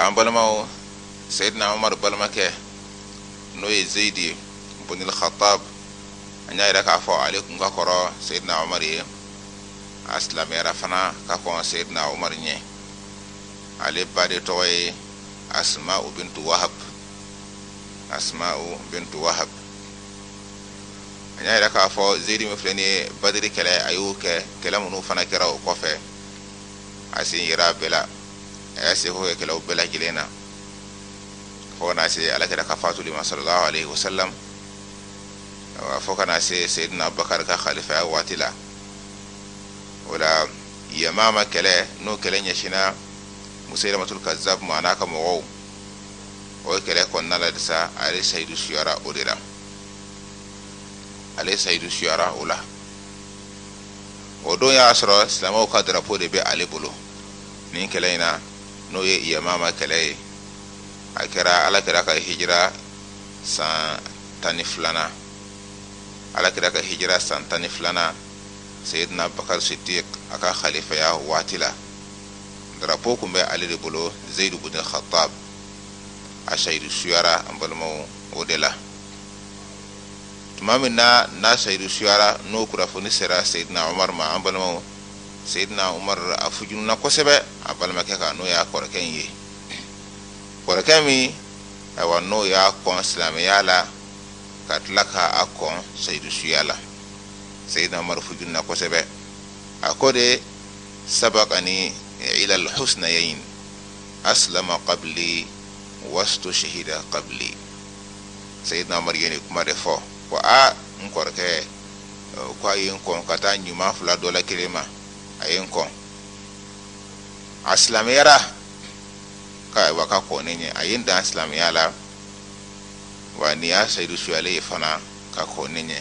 an balimaw seyidina umaru balimakɛ n'o ye zeyidi bunil khatab an y'a yira k'a fɔ ale kun ka kɔrɔ seyidina umaru ye a silamɛyara fana ka kɔn seyidina umaru ɲɛ ale ba de tɔgɔ ye asmau bintu wahab asmau bintu wahab an y'a yira k'a fɔ zeyidi min filɛ nin ye badiri kɛlɛ a y'o kɛ kɛlɛ minnu fana kɛra o kɔfɛ a sen yera a bɛɛ la a y'a seko kɛ kɛlɛw bɛɛ lajɛlen na fo ka na se ala kira ka fatuli ma sallallahu alaihi wasallam fo ka na se seyidina abubakari ka khalifaya waati la o la yamama kɛlɛ n'o kɛlɛ ɲɛsinna musayilamatul kazab ma an'a ka mɔgɔw o kɛlɛ kɔnɔna la de sa ale sayidu suyara o de la ale sayidu suyara o la o don y'a sɔrɔ silamɛw ka drapo de bɛ ale bolo nin kɛlɛ in na n'o ye yamama kɛlɛ ye a kɛra ala kira ka hijira san tan ni filanan ala kira ka hijira san tan ni filanan seyidina bakar siddiq a ka khalifaya waati la darapo kun bɛ ale de bolo zeyidu bin khattab a sayidu suyara an balimaw o de la tuma min na n'a sayidu suyara n'o kunnafoni sera seyidina umar ma an balimaw seyidina umar a fujununa kosɛbɛ a balimakɛ kan n'o y'a kɔrɔkɛ in ye kɔrɔkɛ min ayiwa n'o y'a kɔn silamɛya la ka tila k'a kɔn sayidu suya la seyidina umaru fujunna kosɛbɛ a ko de sabakani ila alhusnayain aslama qabli wastu shahida qabli seyidina umaru ye nin kuma de fɔ ko a n kɔrɔkɛ eh, ko a ye n kɔn ka taa ɲuman fila dɔ la kelen ma a ye n kɔn a silamɛyara ka wa ka kɔn ne ɲɛ a ye n dan silamɛya la wa nin y'a sayidu suyalen ye fana ka kɔn ne ɲɛ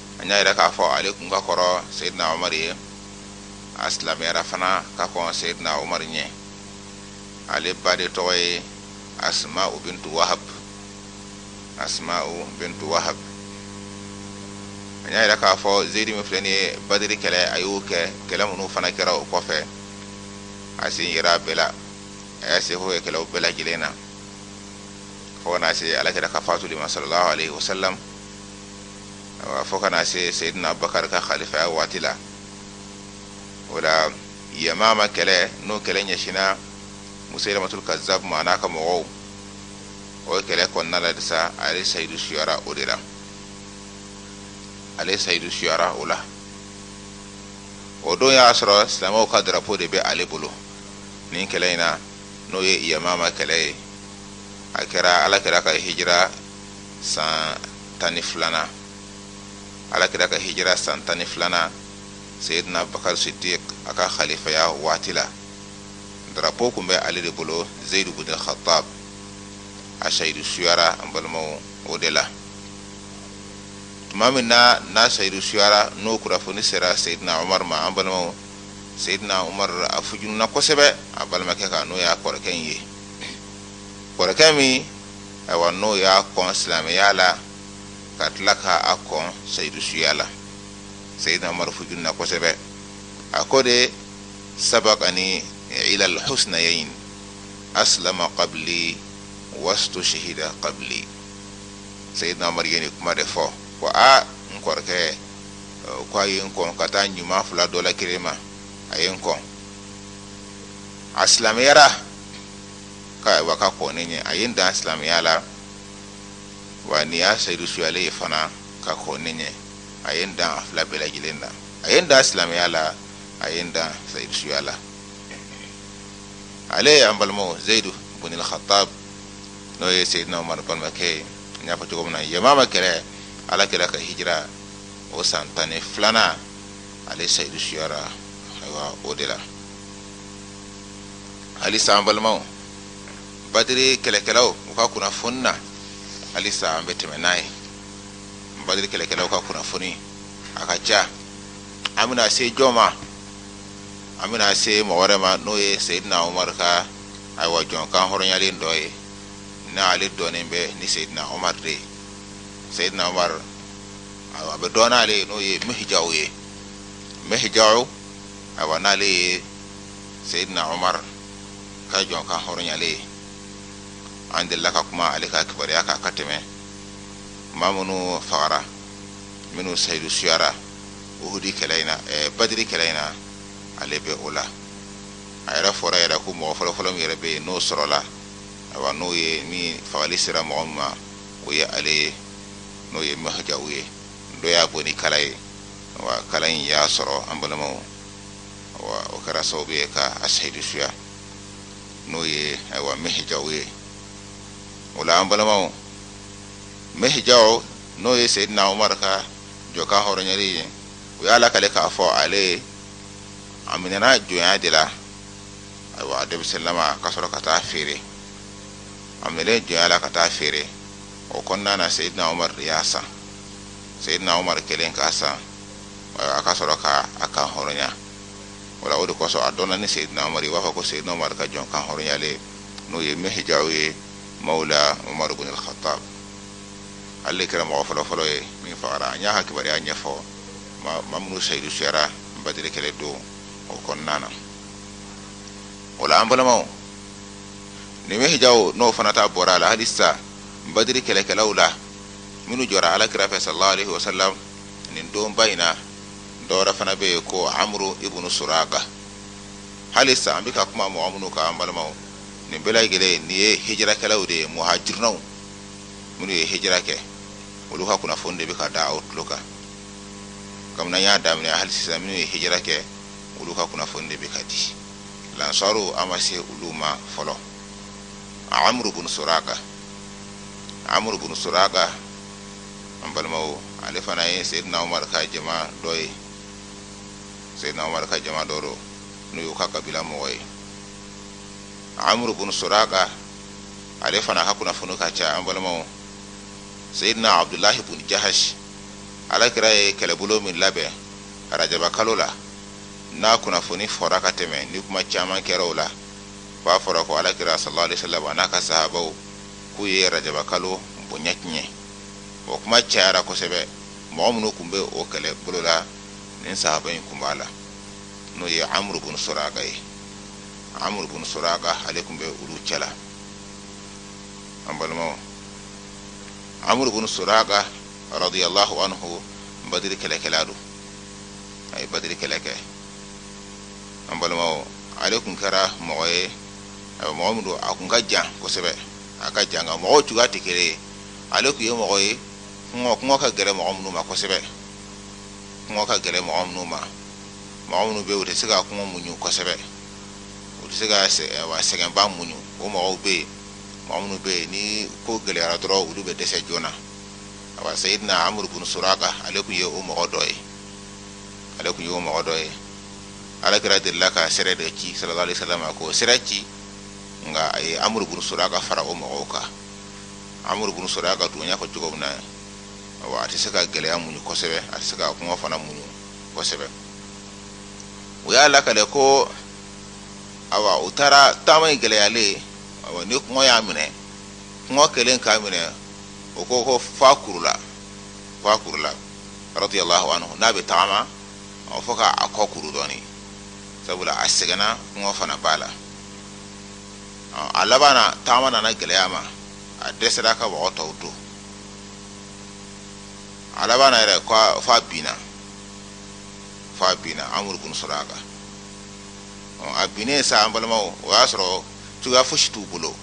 an y'a yira k'a fɔ ale kun ka kɔrɔ seyidina omar ye a silamɛyara fana ka kɔn seyidina omar ɲɛ ale ba de tɔgɔ ye asmau bintu wahab asmau bintu wahab an y'a yira k'a fɔ zeyidi min filɛ nin ye badiri kɛlɛ a y'o kɛ kɛlɛ minnu fana kɛra o kɔfɛ a sen yera a bɛɛ la a y'a seko kɛ kɛlɛw bɛɛ lajɛlen na fo ka na se alakira ka fatuli ma sallallahu alaihi wasallam awa fo ka na se seydina abubakari ka khalifaya waati la o la yamama kɛlɛ n'o kɛlɛ ɲɛsina musailamatul kazab ma n'a ka mɔgɔw o kɛlɛ kɔnɔna la de sa ale sayidu suyara o de la ale sayidu suyara o la o don y'a sɔrɔ silamɛw ka darapo de bɛ ale bolo nin kɛlɛ in na n'o ye yamama kɛlɛ ye a kɛra ala kira ka hijira san tan ni filanan ala kira ka hijira san tan ni filanan seyidina bakar siddiq a ka khalifaya waati la darapo kun bɛ ale de bolo zeyidu bin khattab a sayidu suyara an balimaw o de la tuma min na n'a sayidu suyara n'o kunnafoni sera seyidina umar ma an balimaw seyidina umar a fujununa kosɛbɛ a balimakɛ kan n'o y'a kɔrɔkɛ in ye kɔrɔkɛ min ayiwa n'o y'a kɔn silamɛya la ka tila ka a kɔn seyidu suya la seyidina umaru fujunina kosɛbɛ a ko de sabakani ila alhusnayayn aslama qabli wastu shahida qabli seyidina umaru ye nin kuma de fɔ ko a n kɔrɔkɛ ko a ye n kɔn ka taa ɲuman fila dɔ la kelen ma a ye n kɔn a silamɛyara ka wa ka kɔn ne ɲɛ a ye n dan silamɛya la wa nin y'a seyidu suyalen ye fana ka kɔn ne ɲɛ a ye n dan a fila bɛɛ lajɛlen na a ye n dan silamɛya la a ye n dan seyidu suya la ale an balimaw zeyidu bunil khatab n'o ye seyidina umar balimakɛ ye n y'a fɔ cogo min na yamama kɛlɛ ala kira ka hijira o san tan ni filanan ale seyidu suyara ayiwa o de la halisa an balimaw badiri kɛlɛkɛlaw u ka kunnafoni na halisa an bɛ tɛmɛ n'a ye badiri kɛlɛkɛlaw ka kunnafoni a ka ca an bɛna se jɔn ma an bɛna se mɔgɔ wɛrɛ ma n'o ye seyidina umaru ka ayiwa jɔn kanhɔrɔnyalen dɔ ye n'ale dɔnnen bɛ ni seyidina umaru de ye seyidina umaru ayiwa a bɛ dɔn n'ale ye n'o ye mihijaw ye mihijaw ayiwa n'ale ye seyidina omar ka jɔn kanhɔrɔnyalen ye an delila ka kuma ale ka kibaruya kan ka tɛmɛ maa minnu fagara minnu sayidu suyara uhudi kɛlɛ in na eh, badiri kɛlɛ in na ale bɛ o la a yɛrɛ fɔra yɛrɛ ko mɔgɔ fɔlɔfɔlɔ min yɛrɛ bɛ yen n'o sɔrɔla ayiwa n'o ye ni fagali sera mɔgɔ min ma o ye ale ye n'o ye mihijaw ye dɔ y'a bon ni kala ye wa kala in y'a sɔrɔ an balimaw wa o kɛra sababu ye ka a seyidu suya n'o ye ayiwa mihija ye o la an balimaw mihija n'o ye seyidina umar ka jɔn kan hɔrɔnyalen ye u y'a lakale k'a fɔ ale a minɛna jɔnya de la ayiwa a denmisɛnninlama ka sɔrɔ ka taa feere a minɛlen jɔnya la ka taa feere o kɔnɔna na seyidina umar de y'a san seyidina umar kɛlen k'a san a ka sɔrɔ ka a kan hɔrɔnya wala o de kosɔn a dɔnna ni seyidina umar ye u b'a fɔ ko seyidina umar ka jɔn kan hɔrɔnyalen n'o ye mihija ye mawla umaru bin al-khattab ale kɛra mɔgɔ fɔlɔfɔlɔ ye min fagara an y'a ka kibaruya ɲɛfɔ maa minnu seyidu suyara badiri kɛlɛ don o kɔnɔna na o la an balimaw ni mihija n'o fana ta bɔra a la hali sisan badiri kɛlɛkɛlaw la minnu jɔra alakira fɛ sallallahu alaihi wasallam nin donba in na dɔ wɛrɛ fana bɛ yen ko amuru ibunu soraka hali sisan an bɛ ka kuma mɔgɔ minnu kan an balimaw nin bɛɛ lajɛlen nin ye hijirakɛlaw de ye muhajirunaw minnu ye hijira kɛ olu ka kunnafoni de bɛ ka da aw tulo kan kabini an y'a daminɛ hali sisan minnu ye hijira kɛ olu ka kunnafoni de bɛ ka di lansaru an ma se olu ma fɔlɔ amuru bun soraka amuru bun soraka an balimaw ale fana ye seyidina umar ka jama dɔ ye seyidina umar ka jama dɔ don n'o y'u ka kabila mɔgɔ ye amuru bun soraka ale fana ka kunnafoni ka ca an balimaw seyidina abudulahi bun jahasi ala kira ye kɛlɛbolo min labɛn arajaba kalo la n'a kunnafoni fɔra ka tɛmɛ ni kuma caman kɛra o la f'a fɔra ko ala kira sallallahu alaihi wasallam n'a ka sahabaw k'u ye arajaba kalo bonya tiɲɛ o kuma cayara kosɛbɛ mɔgɔ minnu tun bɛ o kɛlɛbolo la nin sahaba in tun b'a la n'o ye amuru bun soraka ye amuru bun soraka ale tun bɛ olu cɛla an balimaw amuru bun soraka radiyallahu anhu badiri kɛlɛkɛla don a ye badiri kɛlɛ kɛ an balimaw ale tun kɛra mɔgɔ ye awa mɔgɔ min don a kun ka jan kosɛbɛ a ka jan nka mɔgɔw cogoya tɛ kelen ye ale tun ye mɔgɔ ye kɔngɔ ka gɛlɛn mɔgɔ minnu ma kosɛbɛ kɔngɔ ka gɛlɛn mɔgɔ minnu ma mɔgɔ minnu bɛ yen u tɛ se ka kɔngɔ muɲu kosɛbɛ u tɛ se ka sɛgɛnba muɲu o mɔgɔw bɛ yen mɔgɔ minnu bɛ yen ni ko gɛlɛyara dɔrɔn olu bɛ dɛsɛ joona awa seyidina amuru bunu suraka ale tun ye o mɔgɔ dɔ ye ale tun ye o mɔgɔ dɔ ye ala kira delila ka sɛrɛ dɔ ci salalahu alayhi wa salam ko sɛrɛ ci nka a ye amuru bin suraka fara o mɔgɔw kan amuru bin suraka dun y'a fɔ cogo min na awa a tɛ se ka gɛlɛya muɲu kosɛbɛ a tɛ se ka kɔngɔ fana muɲu kosɛbɛ o y'a lakale ko ayiwa u taara taama in gɛlɛyalen ni kɔngɔ y'a minɛ kɔngɔ kɛlen k'a minɛ o ko ko f'a kurula f'a kurula radiyalahu anhu n'a bɛ taama ɔ fo ka a kɔ kuru dɔɔni sabula a sɛgɛnna kɔngɔ fana b'a la a laban na taama nana gɛlɛya ma a dɛsɛra ka mɔgɔ tɔw to a laban na yɛrɛ f'a binna f'a binna amuru bin suraka a binnen sa an balimaw o y'a sɔrɔ cogoya fosi t'u bolo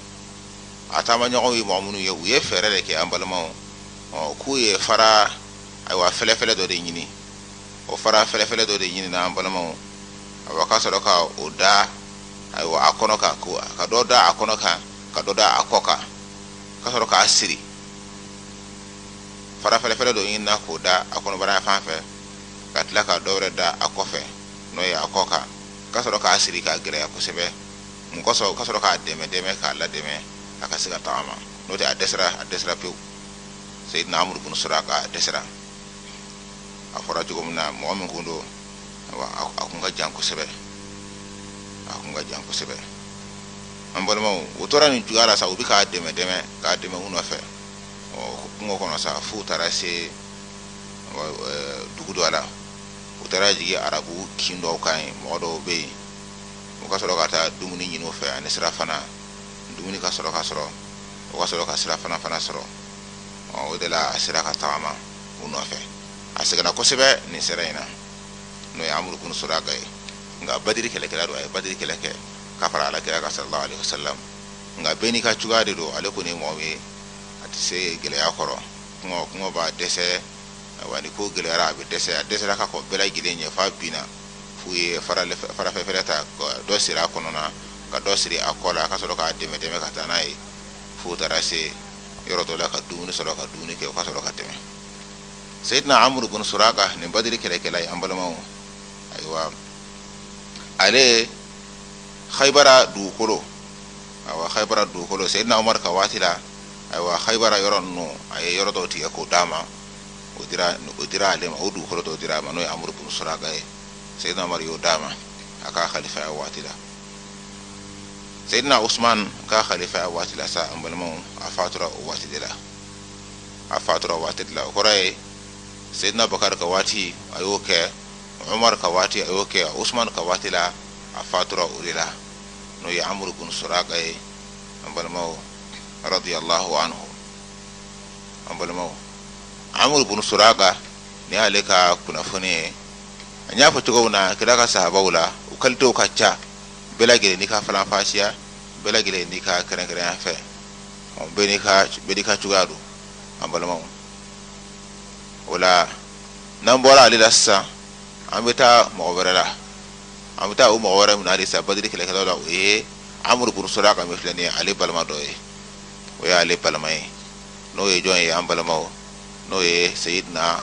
a taama ɲɔgɔnw ye mɔgɔ minnu ye u ye fɛɛrɛ de kɛ an balimaw k'u ye fara ayiwa fɛlɛfɛlɛ dɔ de ɲini o fara fɛlɛfɛlɛ dɔ de ɲinina an balimaw ayiwa ka sɔrɔ ka o da ayiwa a kɔnɔ kan ka dɔ da a kɔnɔ kan ka dɔ da a kɔ kan ka sɔrɔ k'a siri fara fɛlɛfɛlɛ dɔ ɲini k'o da a kɔnɔbara fan fɛ ka tila ka dɔ wɛrɛ da a kɔfɛ n'o ye a kɔ kan ka sɔrɔ k'a siri k'a gɛlɛya kosɛbɛ mun kosɔn ka sɔrɔ k'a dɛmɛ dɛmɛ k'a ladɛmɛ a ka se ka tagama n'o tɛ a dɛsɛra a dɛsɛra pewu seyidina amuru bin suraka a dɛsɛra a fɔra cogo min na mɔgɔ min kun don a kun ka jan kosɛbɛ a kun ka jan kosɛbɛ an balimaw o tora nin cogoya la sa u bɛ k'a dɛmɛ dɛmɛ k'a dɛmɛ u nɔfɛ ɔ kungo kɔnɔ sa f'u taara se dugu dɔ la u taara jigin arabu kin dɔw kan yen mɔgɔ dɔw bɛ yen u ka sɔrɔ ka taa dumuni ɲini u fɛ ani sirafana dumuni ka sɔrɔ ka sɔrɔ u ka sɔrɔ ka sirafana fana sɔrɔ o de la a sera ka tagama u nɔfɛ a sɛgɛnna kosɛbɛ nin sira in na n'o ye amuru bin suraka ye nka badiri kɛlɛkɛla don a ye badiri kɛlɛ kɛ ka fara ala kira kan salalahu alayhi wa salam nka bɛɛ n'i ka cogoya de don ale kɔni ye mɔgɔ ye a tɛ se gɛlɛya kɔrɔ kɔngɔ b'a dɛsɛ wa ni ko gɛlɛyara a bɛ dɛsɛ a dɛsɛra ka kɔn bɛɛ lajɛlen ɲɛ f'a binna f'u ye fara fɛlɛfɛlɛ ta dɔ siri a kɔnɔna ka dɔ siri a kɔ la a ka sɔrɔ k'a dɛmɛ dɛmɛ ka taa n'a ye f'u taara se yɔrɔ dɔ la ka dumuni sɔrɔ ka dumuni kɛ u ka sɔrɔ ka tɛmɛ seyidina amuru bin suraka nin badiri kɛlɛkɛla ye an balimaw ayiwa ale haibara dugukolo ayiwa haibara dugukolo seyidina umar ka waati la ayiwa haibara yɔrɔ ninnu a ye yɔrɔ dɔw tigɛ k'o d'a ma o dira o dira ale ma o dugukolo dɔw dira a ma n'o ye amuru bin suraka ye seyidina umar y'o d'a ma a ka kalifaya waati la seydina ousmane ka kalifaya waati la sa an balimaw a fatura o waati de la a fatura o waati de la o kɔrɔ ye seydina bakar ka waati a y'o kɛ umar ka waati a y'o kɛ ousmane ka waati la a fatura o de la n'o ye amuru bunu suraka ye an balimaw radiyallahu anhu an balimaw amuru bunu suraka nin y'ale ka kunnafoni ye an y'a fɔ cogo min na kira ka sahabaw la u kalitew ka ca bɛɛ lajɛlen n'i ka faranfasiya bɛɛ lajɛlen n'i ka kɛrɛnkɛrɛnya fɛ bɛɛ n'i ka cogoya don an balimaw o la n'an bɔra ale la sisan an bɛ taa mɔgɔ wɛrɛ la an bɛ taa o mɔgɔ wɛrɛ min na halisa badiri kɛlɛkɛlaw la o ye amuru bunu suraka min filɛ nin ye ale balima dɔ ye o y'ale balima ye n'o ye jɔn ye an balimaw n'o ye seyidina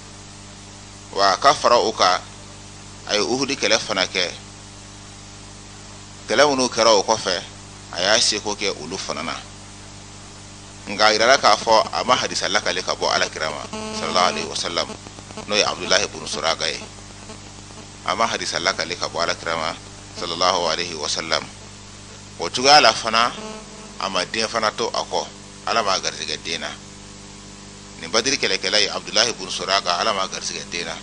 wa ka fara o kan a ye uhudi kɛlɛ fana kɛ kɛlɛ minnu kɛra o kɔfɛ a y'a seko kɛ olu fana na nka a yirala k'a fɔ a ma hadisa lakale ka bɔ alakira ma sallallahu alaihi wasallam n'o ye abdulahi bunu suraka ye a ma hadisa lakale ka bɔ alakira ma sallallahu alaihi wasallam o cogoya la fana a ma den fana to a kɔ ala m'a garisɛgɛ den na nin badiri kɛlɛkɛla ye abudulayi bunu suraka ala m'a garisɛgɛ den na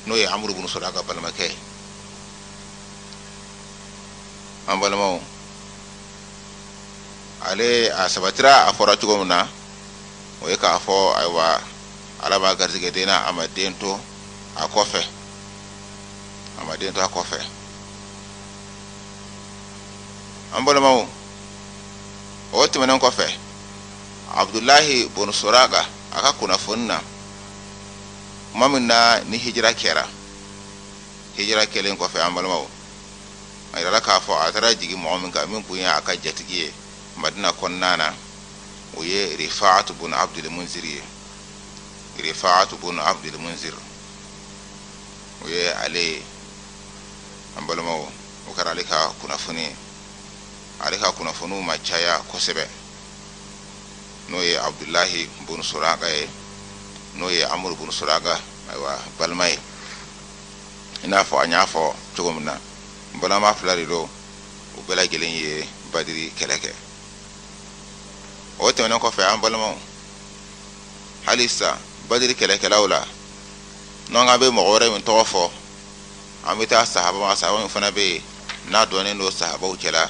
n'o ye amuru bunu suraka balimakɛ ye an balimaw ale a sabatira a fɔra cogo min na o ye k'a fɔ ayiwa ala m'a garisɛgɛ den na a ma den to a kɔfɛ a ma den to a kɔfɛ an balimaw o tɛmɛnen kɔfɛ abudulahi bunu suraka a ka kunnafoni na kuma min na ni hijira kɛra hijira kɛlen kɔfɛ an balimaw a yirala k'a fɔ a taara jigin mɔgɔ min kan min kun ye a ka jatigi ye madina kɔnɔna na o ye rifaatu bun abdul munzir ye rifaatu bun abdul munzir o ye ale ye an balimaw o kɛra ale ka kunnafoni ye ale ka kunnafoniw ma caya kosɛbɛ n'o ye abudulayi bunu suraka ye n'o ye amuru bunu suraka ayiwa balima ye i n'a fɔ an y'a fɔ cogo min na balimama fila de don u bɛɛ lajɛlen ye badiri kɛlɛ kɛ o tɛmɛnen kɔfɛ an balimaw halisa badiri kɛlɛkɛlaw la n'an ka bɛ mɔgɔ wɛrɛ min tɔgɔ fɔ an bɛ taa sahaba ma sahaba min fana bɛ yen n'a dɔnnen don sahabaw cɛla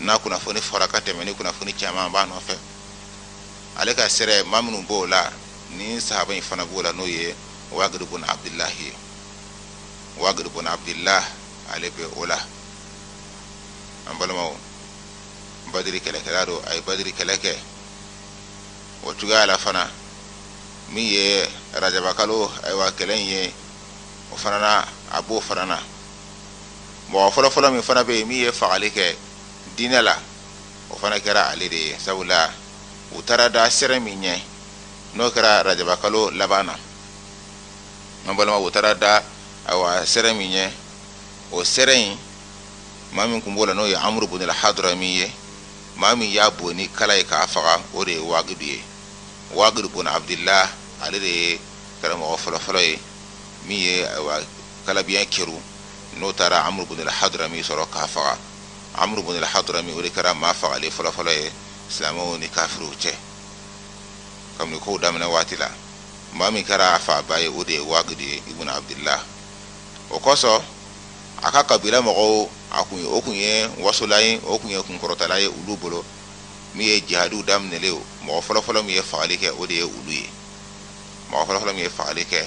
n'a kunnafoni fɔra ka tɛmɛ ni kunnafoni caman b'a nɔfɛ ale ka sɛrɛ maa minnu b'o la ni sahaba in fana b'o la n'o ye wagidu bun abdullahi ye wagidu bun abdullah ale bɛ o la an balimaw badiri kɛlɛkɛla don a ye badiri kɛlɛ kɛ o cogoya la fana min ye rajabakalo ayiwa kɛlɛ in ye o fana na a b'o fana na mɔgɔ fɔlɔfɔlɔ min fana bɛ yen min ye fagali kɛ diinɛ la o fana kɛra ale de ye sabula u taara da sɛrɛ min ɲɛ n'o kɛra rajabakalo laban na an balima u taara da ayiwa sɛrɛ min ɲɛ o sɛrɛ in maa min kun b'o la n'o ye amuru bun alhadrami ye maa min y'a bon ni kala ye k'a faga o de ye wagidu ye wagidu bun abudula ale de ye kɛra mɔgɔ fɔlɔfɔlɔ ye min ye kalabiɲɛ kɛru n'o taara amuru bun alhadrami sɔrɔ k'a faga amuru bun alhadrami o de kɛra maa fagalen fɔlɔfɔlɔ ye silamɛw ni kafiriw cɛ kabini kow daminɛ waati la maa min kɛra a faaba ye o de ye wagidu ibn abudula o kosɔn a ka kabila mɔgɔw a kun o kun ye wasola ye o kun ye kunkɔrɔtala ye olu bolo min ye jihadiw daminɛlen mɔgɔ fɔlɔfɔlɔ min ye fagali kɛ o de ye olu ye mɔgɔ fɔlɔfɔlɔ min ye fagali kɛ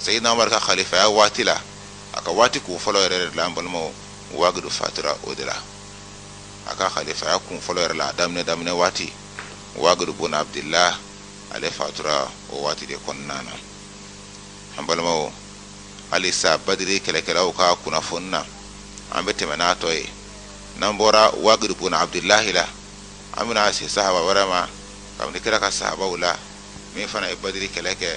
seyidina umar ka kalifaya waati la a ka waati kun fɔlɔ yɛrɛ la an balimaw wagidu fatura o de la a ka kalifaya kun fɔlɔ yɛrɛ la a daminɛ daminɛ waati wagidu bun abudula ale fatura o waati de kɔnɔna na an balimaw halisa badiri kɛlɛkɛlaw ka kunnafoni na an bɛ tɛmɛ n'a tɔ ye n'an bɔra wagidu bun abudulahi la an bɛna se sahaba wɛrɛ ma kabini kira ka sahabaw la min fana ye badiri kɛlɛ kɛ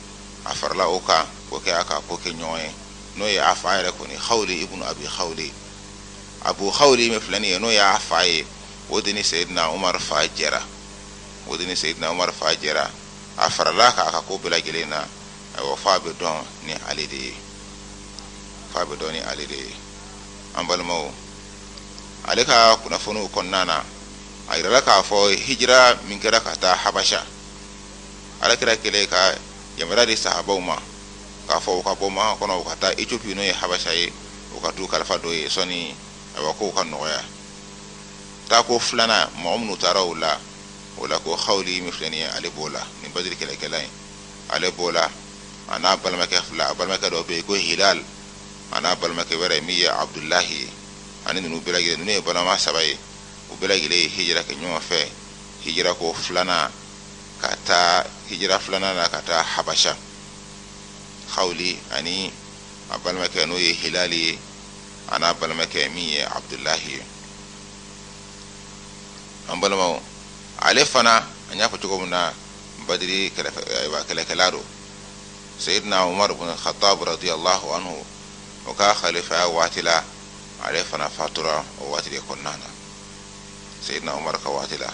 a farala o kan k'o kɛ a ka kokɛɲɔgɔn ye n'o ye a fa yɛrɛ kɔni hawli ibnu abi hawli abu hawli min filɛ nin ye n'o y'a fa ye o de ni seyidina umar fa jɛra o de ni seyidina umar fa jɛra a farala kan a ka ko bɛɛ lajɛlen na ayiwa f'a bɛ dɔn ni ale de ye f'a bɛ dɔn ni ale de ye an balimaw ale ka kunnafoniw kɔnɔna na a yirala k'a fɔ hijira min kɛra ka taa habasha ala kira kɛlen ka yamaruya di sahabaw ma k'a fɔ u ka bɔ makan kɔnɔ u ka taa eciopi n'o ye habasha ye u ka t'u kalifa dɔ ye sɔnni ayiwa kow ka nɔgɔya taako filanan mɔgɔ minnu taara u la o la ko hawli min filɛ nin ye ale b'o la nin badiri kɛlɛkɛla in ale b'o la a n'a balimakɛ fila a balimakɛ dɔ bɛ yen ko hilal a n'a balimakɛ wɛrɛ min ye abudulahi ye ani ninnu bɛɛ lajɛlen ninnu ye balima saba ye u bɛɛ lajɛlen ye hijira kɛ ɲɔgɔn fɛ hijira ko filanan ka taa hijira filanan na ka taa habasa hawuli ani a balimakɛ n'o ye hilali ye a n'a balimakɛ min ye abudulahi ye an balimaw ale fana an y'a fɔ cogo min na badiri kɛlɛkɛla don seyidina umaru bin khattab radiyallahu anhu o ka khalifaya waati la ale fana fatura o waati de kɔnɔna na seyidina umaru ka waati la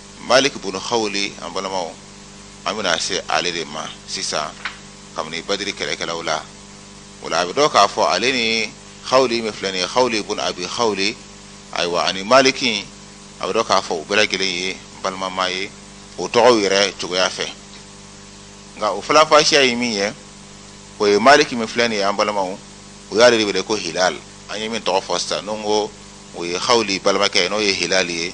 malik bun khawli an balamaw an bɛna se ale de ma sisan kabini badiri kɛlɛkɛlaw la o la a bɛ dɔn k'a fɔ ale ni khawli min filɛ nin ye khawli bun abi khawli ayiwa ani maliki a bɛ dɔn k'a fɔ u bɛɛ lajɛlen ye balimama ye o tɔgɔw yɛrɛ cogoya fɛ nka o falanfasiya ye min ye o ye maliki min filɛ nin ye an balimaw o y'ale de wele ko hilal an ye min tɔgɔ fɔ sisan n'o ko o ye hawli balimakɛ ye n'o ye hilali ye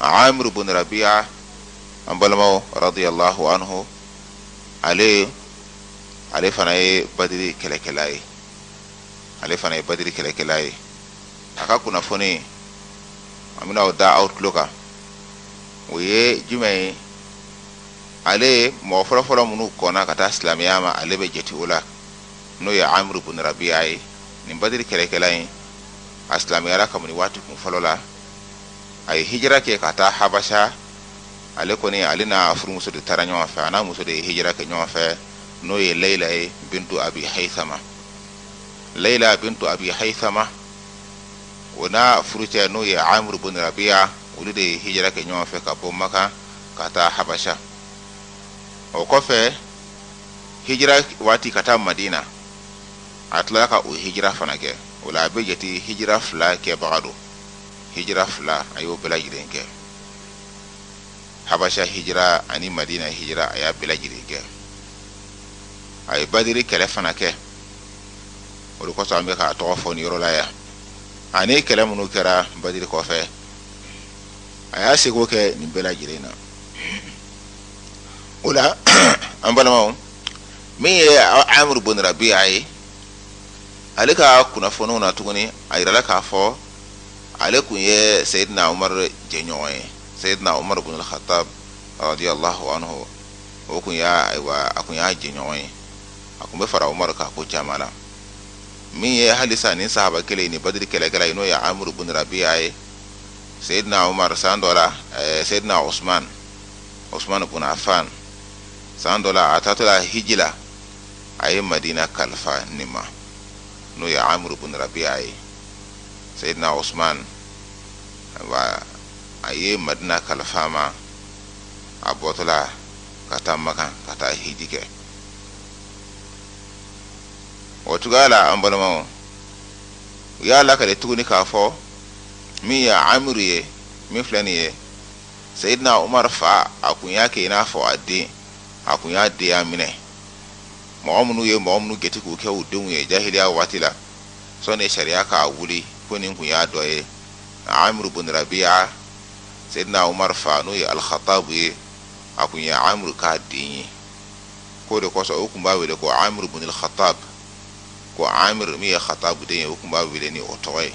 amir bin rabi'a an balimaw radiyallahu anhu ale fana ye badiri kɛlɛkɛla ye a ka kunnafoni an bɛna o da aw tulo kan o ye jumɛn ye ale mɔgɔ fɔlɔfɔlɔ minnu kɔnna ka taa silamɛya ma ale bɛ jate o la n'o ye amir bin rabi'a ye nin badiri kɛlɛkɛla in a silamɛyara kabini waati kun fɔlɔ la a ye hijira kɛ ka taa habasa ale kɔni ale n'a furumuso de taara ɲɔgɔn fɛ a n'a muso de ye hijira kɛ ɲɔgɔn fɛ n'o ye layila ye bintu abi hayisama layila bintu abi hayisama o n'a furucɛ n'o ye amiru bin rabiya olu de ye hijira kɛ ɲɔgɔn fɛ ka bɔ makan ka taa habasa o kɔfɛ hijira waati ka taa madina a tila ka o hijira fana kɛ o la a bɛ jate hijira fila kɛbaga don hijira fila a y'o bɛɛ lajɛlen kɛ habasa hijira ani madina hijira a y'a bɛɛ lajɛlen kɛ a ye badiri kɛlɛ fana kɛ o de kosɔn an bɛ k'a tɔgɔ fɔ nin yɔrɔ la yan ani kɛlɛ minnu kɛra badiri kɔfɛ a y'a seko kɛ nin bɛɛ lajɛlen na o la an balimaw min ye amiru bun rabiya ye ale ka kunnafoniw na tuguni a jirala k'a fɔ ale tun ye seyidina umar jɛɲɔgɔn ye seyidina umar bin khattab radiyallahu anhu o tun y'a ayiwa a tun y'a jɛɲɔgɔn ye a tun bɛ fara umar ka ko caman na min ye halisa nin sahaba kelen nin badiri kɛlɛkɛla in n'o ye amiru bin rabiya ye seyidina umar san dɔ la eh, seyidina usman usman bin affan san dɔ la a taatɔla hiji la a ye madina kalifa nin ma n'o ye amuru bun rabiya ye seyidina usman wa a ye madina kalifa a ma a bɔtɔla ka taa makan ka taa hiji kɛ o cogoya la an balimaw u y'a lakale tuguni k'a fɔ min ye amuru ye min filɛ nin ye seyidina umar fa a kun y'a kɛ i n'a fɔ a den a kun y'a denya minɛ mɔgɔ minnu ye mɔgɔ minnu gɛti k'u kɛ u denw ye jahiliya waati la sɔni sariya k'a wuli ko nin kun y'a dɔ ye amiru bun rabiya seyidina umar fa n'o ye alkhatabu ye a kun ye amiru k'a den ye k'o de kosɔn u kun b'a wele ko amiru bunil khatab ko amir min ye khatabu den ye u kun b'a wele ni o tɔgɔ ye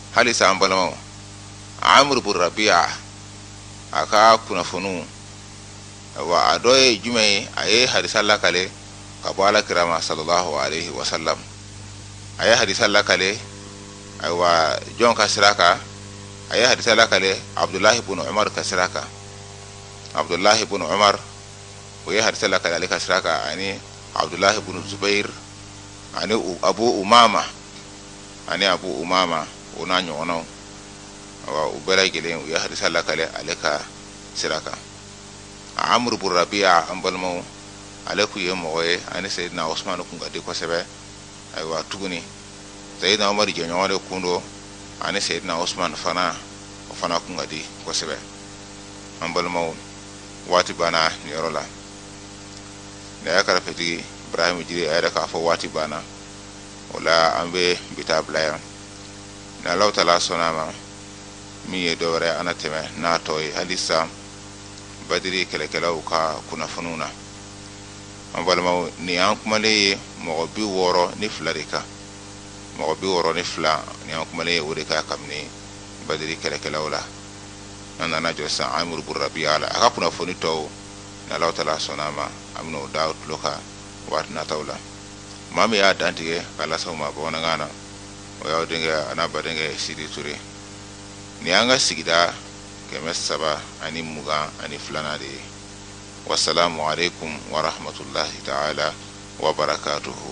halisa an balimaw amuru bun rabiya a ka kunnafoniw wa a dɔ ye jumɛn ye a ye hadisa lakale ka bɔ ala kira ma sallallahu alaihi wa sallam a ye hadisa lakale ayiwa jɔn ka sira kan a ye hadisa lakale abdulahi bun umar ka sira kan abdulahi bun umar o ye hadisa lakale ale ka sira kan ani abdulahi bun zubair ani abu umama ani abu umama o n'a ɲɔgɔnw u bɛɛ lajɛlen u ye hadisa lakale ale ka sira kan a amuru bun rabiya an balimaw ale kun ye mɔgɔ ye ani seyidina usumana kun ka di kosɛbɛ ayiwa tuguni seyidina umaru jɛɲɔgɔn de kun don ani seyidina usumana fana o fana kun ka di kosɛbɛ an balimaw waati banna nin yɔrɔ la ne y'a karafetigi bara jiri a yɛrɛ k'a fɔ waati banna o la an bɛ bi ta bila yan ni alahu taala sɔnna a ma min ye don wɛrɛ an na tɛmɛ n'a tɔ ye halisa badiri kɛlɛkɛlaw ka kunnafoniw na an balimaw nin an kumalen ye mɔgɔ bi wɔɔrɔ ni fila de kan mɔgɔ bi wɔɔrɔ ni fila ni an kumalen ye o de kan kabini badiri kɛlɛkɛlaw la an nana jɔ sisan amuru bun rabiya la a ka kunnafoni tɔw ni alahu taala sɔnna a ma an bɛna o da aw tulo kan waati nataw la maa min y'a dantigɛ k'a lase aw ma bamanankan na o y'aw denkɛ an'aw badenkɛ sidi ture nin y'an ka sigida kɛmɛ saba ani mugan ani filanan de ye wasalamu aleykum warahmatulahi taala wabarakatuhu